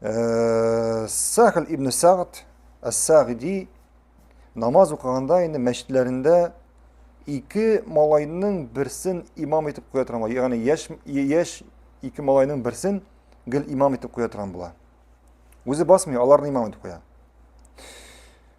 Э, Сахл ибн Сагд Ас-Сагди намаз укыганда инде мәчетләрендә ике малайның берсен имам итеп куя торган була. Ягъни яшь яшь ике малайның берсен гел имам итеп куя торган була. Үзе басмый, аларны имам итеп куя.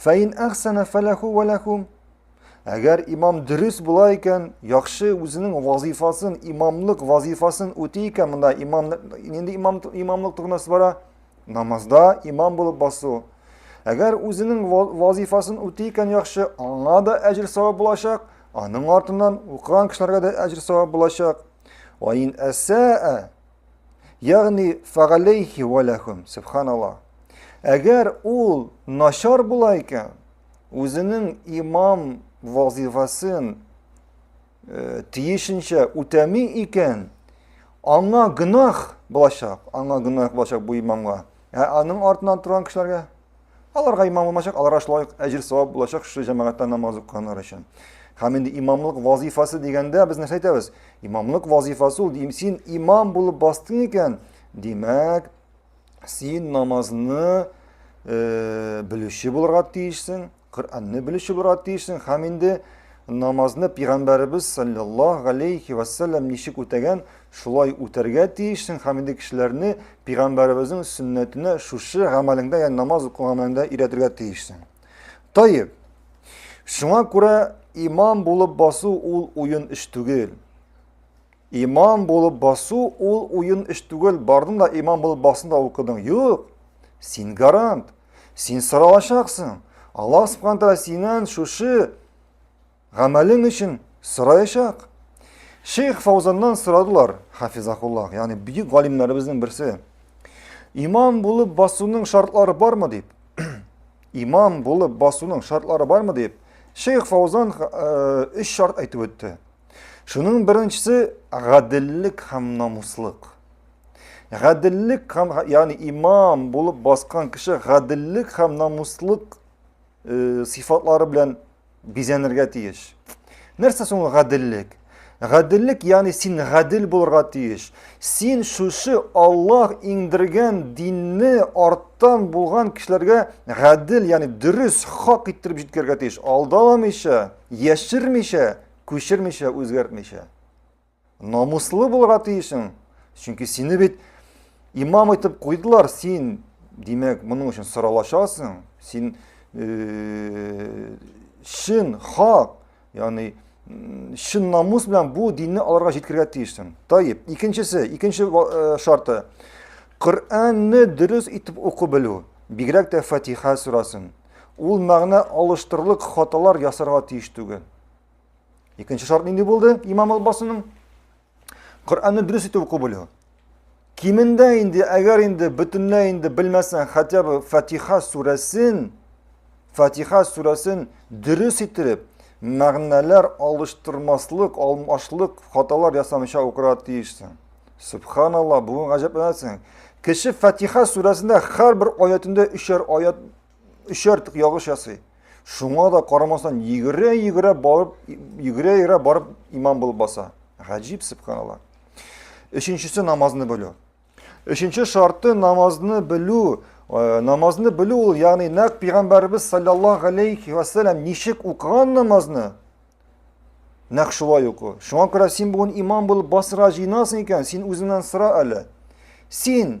Фәин әхсәнә фәләху вәләхум. Әгәр имам дөрес була икән, яхшы үзенең вазифасын, имамлык вазифасын үти икән, монда имам нинди имам имамлык турында бара? Намазда имам булып басу. Әгәр үзенең вазифасын үти икән яхшы, аңа да әҗер савап булачак, аның артыннан укыган кешеләргә дә әҗер савап булачак. Ваин әсәә Ягъни фагалейхи валахум, субханаллах. Әгәр ул начар була икән, үзенең имам вазифасын э, тиешенчә үтәми икән, аңа гынах булачак, аңа гынах булачак бу имамга. Ә аның артынан торган кешеләргә Аларга имам булмачак, аларга шулай ук әҗер савап булачак шушы җәмәгатьтә намаз укыганнар өчен. Һәм инде имамлык вазифасы дигәндә без нәрсә әйтәбез? Имамлык вазифасы ул дим, син имам булып бастың икән, димәк, син намазны э, белүче булырга тиешсең, Коръәнне белүче булырга тиешсең һәм инде намазны пигамбәребез саллаллаһу алейхи вассалам ничек үтәгән, Шулай үтәргә тиешсең һәм инде кешеләрне пигамбәребезнең сөннәтенә шушы гамәлеңдә, ягъни намаз уку гамәлеңдә өйрәтергә тиешсең. Таеп. Шуңа күрә имам булып басу ул уен эш түгел. Имам булып басу ул уен эш түгел. Бардың да имам булып басын да укыдың. Юк. Син гарант. Син соралачаксың. Аллаһ субханә тәгалә синнән шушы Гамәлең өчен сораячак. Шейх Фаузаннан сорадылар, хафизахуллах, ягъни бөек галимнәребезнең берсе. Имам булып басуның шартлары бармы дип? Имам булып басуның шартлары бармы дип? Шейх Фаузан өч э, шарт әйтеп үтте. Шуның беренчесе гаделлек һәм намуслык. Гаделлек һәм ягъни имам булып баскан кеше гаделлек һәм намуслык э, сифатлары белән Бизәнергә тиеш. Нәрсә соң гаделлек? Гаделлек, ягъни син гадел булырга тиеш. Син шушы Аллаһ иңдергән динне арттан булган кешеләргә гадел, ягъни дөрес, хак иттереп җиткергә тиеш. Алдаламыйча, яшермичә, күчермичә, үзгәртмичә. Намуслы булырга тиешең. Чөнки сине бит имам итеп куйдылар, син, димәк, моның өчен соралашасың. Син э, шин, хак, ягъни шин намус белән бу динне аларга җиткергә тиешсең. Таип, икенчесе, икенче э, шарты. Коръәнне дөрес итеп уку белү, бигрәк тә Фатиха сурасын. Ул мәгънә алыштырлык хаталар ясарга тиеш түгел. Икенче шарт нинди булды имам албасының? Коръәнне дөрес итеп уку белү. Кимендә инде, әгәр инде бөтенләй инде белмәсәң, хотя бы Фатиха сүрәсен, Фатиха сүрәсен дөрес итеп, мәгънәләр алыштырмаслык, алмашлык хаталар ясамыйча укырга тиешсең. Субханалла, бүген гаҗәпләнәсең. Кеше Фатиха сүрәсендә һәр бер аятында өчәр аят өч артык ягыш ясый. Шуңа да карамастан йөгерә-йөгерә барып, йөгерә-йөгерә барып имам булып баса. Гаҗиб субханалла. Өченчесе намазны белү. Өченче шарты намазны белү. Э, намазны белү ул, ягъни нәкъ пәйгамбәрбез саллаллаһу алейхи ва саллям ничек укыган намазны, нәкъ шулай уку. Шуңа күрә син бүген имам булып басырга җыенасың икән, син үзеңнән сора әле. Син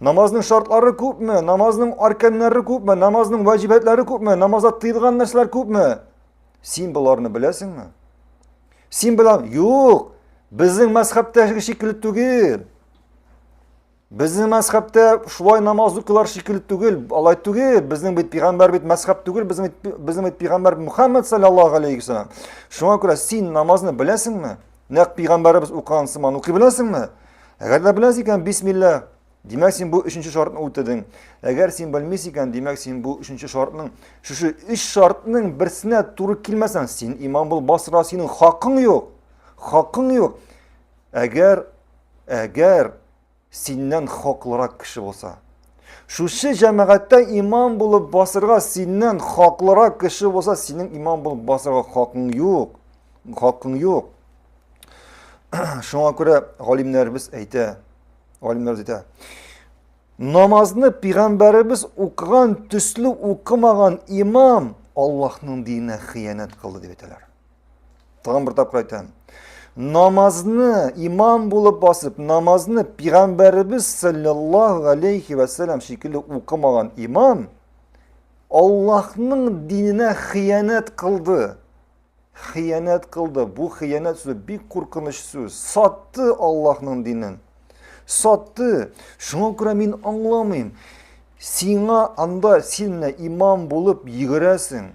Намазның шартлары күпме? Намазның арканнары күпме? Намазның ваҗибәтләре күпме? Намазда тыелган нәрсәләр күпме? Син боларны беләсеңме? Син белән юк. Безнең мәзхәбтә шикелле түгел. Безнең мәзхәбтә шулай намаз укылар шикелле түгел. Алай түгел. Безнең бит пигамбәр бит мәзхәб түгел. Безнең бит безнең бит пигамбәр Мухаммад саллаллаһу алейхи ва саллям. Шуңа күрә син намазны беләсеңме? Нәкъ пигамбәребез укыган сыман укый беләсеңме? Әгәр дә беләсең икән, бисмилла. Димәк, син бу өченче шартны үтәдең. Әгәр син белмисең икән, димәк, син бу өченче шартның, шушы өч шартның берсенә туры килмәсәң, син имам бул, басра, синең хакың юк. Хакың юк. Әгәр әгәр Синнән хаклырак кеше булса. Шушы җәмәгатьтә имам булып басырга синнән хаклырак кеше булса, синең имам булып басырга хакың юк. Хакың юк. Шуңа күрә галимнәребез әйтә, галимнәребез әйтә, намазны пигамбәребез укыган төсле укымаган имам Аллаһның диненә хыянәт кылды дип әйтәләр. Тагын бер тапкыр әйтәм. Намазны имам булып басып, намазны пигамбәребез саллаллаһу алейхи ва саллям шикелле укымаган имам Аллаһның диненә хыянәт кылды. Хыянәт кылды. Бу хыянәт сүзе бик куркыныч сүз. Сатты Аллаһның динен. Сатты. Шуңа күрә мин аңламыйм. Сиңа анда син имам булып йөгерәсең.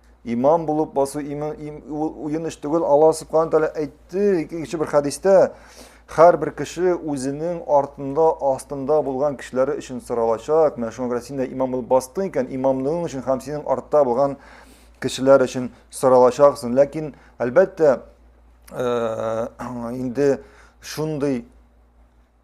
Имам булып басу имам им, уен эш түгел. Алла субхана тәгалә әйтте икенче бер хәдистә, һәрбер кеше үзенең артында, астында булган кешеләре өчен соралачак. Менә шуңа күрә син дә имам булып бастың икән, имамлыгың өчен һәм синең артта булган кешеләр өчен соралачаксың. Ләкин, әлбәттә, э, инде шундый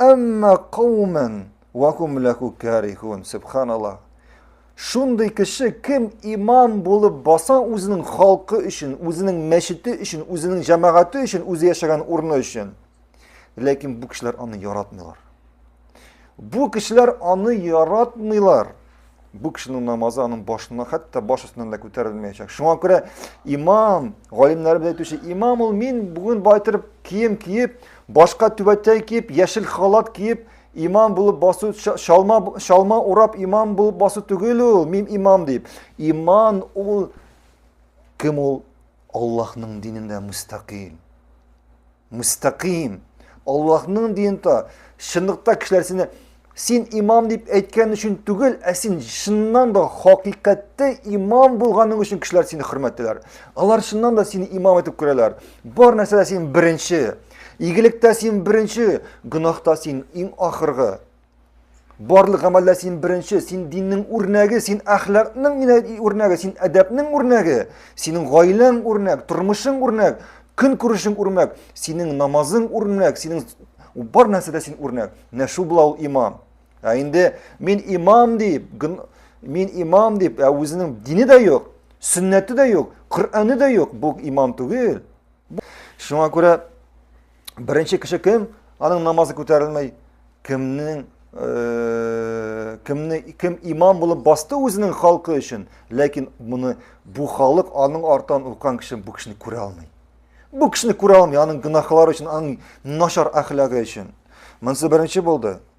Әмма каумен вакум ләху карихун, субханаллах. Шундый кеше кем имам булып баса үзенең халкы өчен, үзенең мәчете өчен, үзенең җәмәгате өчен, үзе яшәгән урыны өчен. Ләкин бу кешеләр аны яратмыйлар. Бу кешеләр аны яратмыйлар. Бу кешенең намазы аның башына, хәтта баш өстеннән дә күтәрелмәячәк. Шуңа күрә имам, галимнәр белән әйтүче, имам ул мин бүген байтырып кием киеп, башка түбәтәй киеп, яшел халат киеп, имам булып басу, шалма, шалма урап имам булып басу түгел ул, мин имам дип. Иман ул кем ул? Аллаһның динендә мустақим. Мустаким. Аллаһның динта. Чынлыкта кешеләр сине син имам дип әйткән өчен түгел, ә син чыннан да хакыйкатьтә имам булганың өчен кешеләр сине хөрмәтлиләр. Алар чыннан да сине имам итеп күрәләр. Бар нәрсәдә син беренче. Игелектә син беренче, гөнаһта син иң ахыргы. Барлык гамәлдә син беренче, син диннең үрнәге, син әхлакның үрнәге, син әдәпнең үрнәге, синең гаиләң үрнәк, тормышың үрнәк, көн күрешең үрнәк, синең намазың үрнәк, синең бар нәрсәдә син үрнәк. Менә шул була ул имам. Ә инде мин имам дип, мин имам дип, ә үзенең дине дә юк, сөннәте дә юк, Коръәне дә юк, бу имам түгел. Шуңа күрә Беренче кеше кем? Аның намазы күтәрелмәй. Кемнең э, кемне кем имам булып басты үзенең халкы өчен, ләкин моны бу халык аның артан уккан кеше бу кешене күрә алмый. Бу кешене күрә алмый, аның гынахлары өчен, аның начар әхлагы өчен. Монсы беренче булды.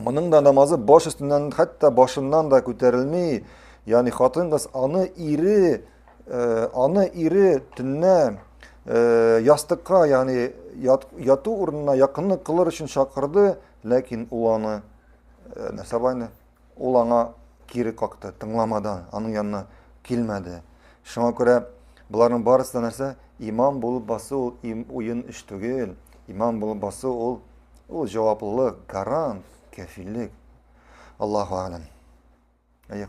Моның да намазы баш өстеннән, хәтта башыннан да күтәрелми. Ягъни хатын кыз аны ире, э, аны ире төннә э, ястыкка, ягъни яту урынына якынлык кылыр өчен чакырды, ләкин ул аны э, нәрсә Ул аңа кире какты, тыңламады, аның янына килмәде. Шуңа күрә боларның барысы да нәрсә? Имам булып басу ул им, уен эш түгел. Имам булып басу ул ул җаваплылык, гарант, кәфиллек. Аллаһу алам. Әйе.